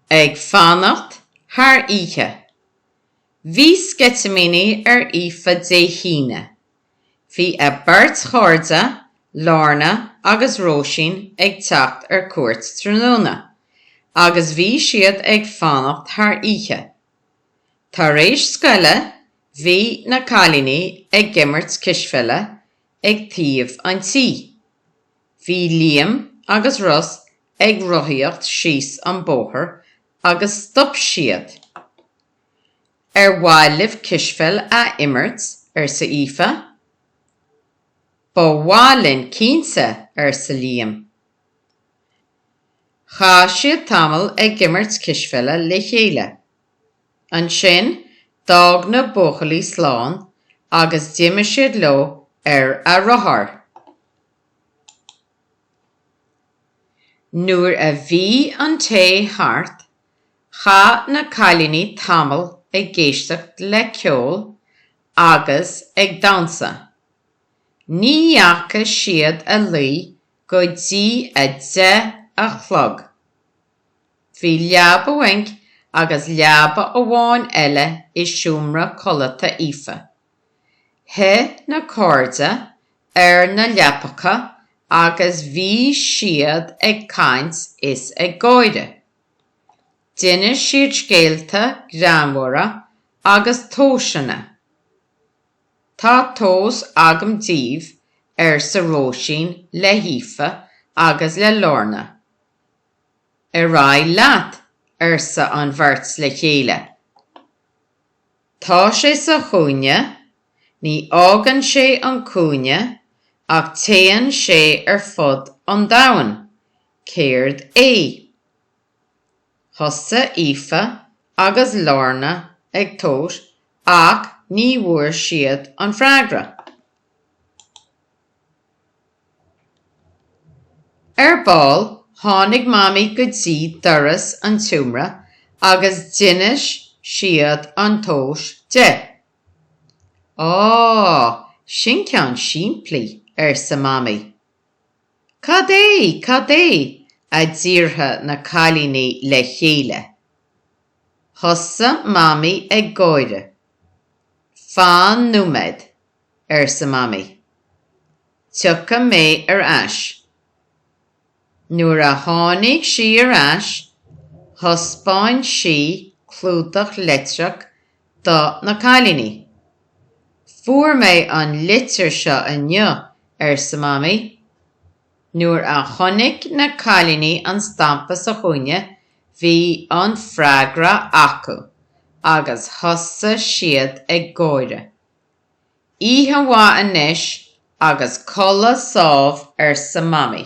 Ag fanacht thar oíche. Bhí sceitimíní ar Aoife Dé hAoine. Bhí a beirt chairde, Lorna agus Róisín ag teacht ar cuairt tráthnóna agus bhí siad ag fanacht thar oíche. Tar éis scoile bhí na cailíní ag imirt cispheile ag taobh an tí. Bhí Liam agus Ros ag rothaíocht síos an bóthar agus stop siad. Ar mhaith libh cispheil a imirt? arsa Aoife. Ba mhaith linn cinnte, arsa Liam. Chaith siad tamall ag imirt cispheile le chéile. Ansin d'fhág na buachaillí slán agus d'imigh siad leo ar a rothar. Nuair a bhí an tae thart, chaith na cailíní tamall ag éisteacht le ceol agus ag damhsa. Ní dheacha siad a luí go dtí a deich a chlog. Bhí leaba bhuinc agus leaba amháin eile i seomra codlata Aoife. Shuigh na cairde ar na leapacha agus bhí siad ag caint is ag gáire. D'inis siad scéalta greannmhara agus tomhaiseanna. Tá tomhas agam daoibh, arsa Róisín le hAoife agus le Lorna. Ar aghaidh leat, arsa an bheirt le chéile. Tá sé sa chúinne, ní fhágann sé an cúinne ach téann sé ar fud an domhain. Céard é? Thosaigh Aoife agus Lorna ag tomhas ach ní bhfuair siad an freagra. Ar ball, tháinig Mamaí go dtí doras an tseomra agus d'inis siad an tomhas di. Á, sin ceann simplí, arsa Mamaí. Cad é, cad é? a d'fhiafraigh na cailíní le chéile. Thosaigh Mamaí ag gáire. Fan nóiméad, arsa Mamaí. Tiocfaidh mé ar ais. Nuair a tháinig sí ar ais, thaispeáin sí clúdach litreach do na cailíní. Fuair mé an litir seo inniu, arsa Mamaí. Nuair a chonaic na cailíní an stampa sa chúinne, bhí an freagra acu agus thosaigh siad ag gáire. Oíche mhaith anois agus codladh sámh arsa Mamaí.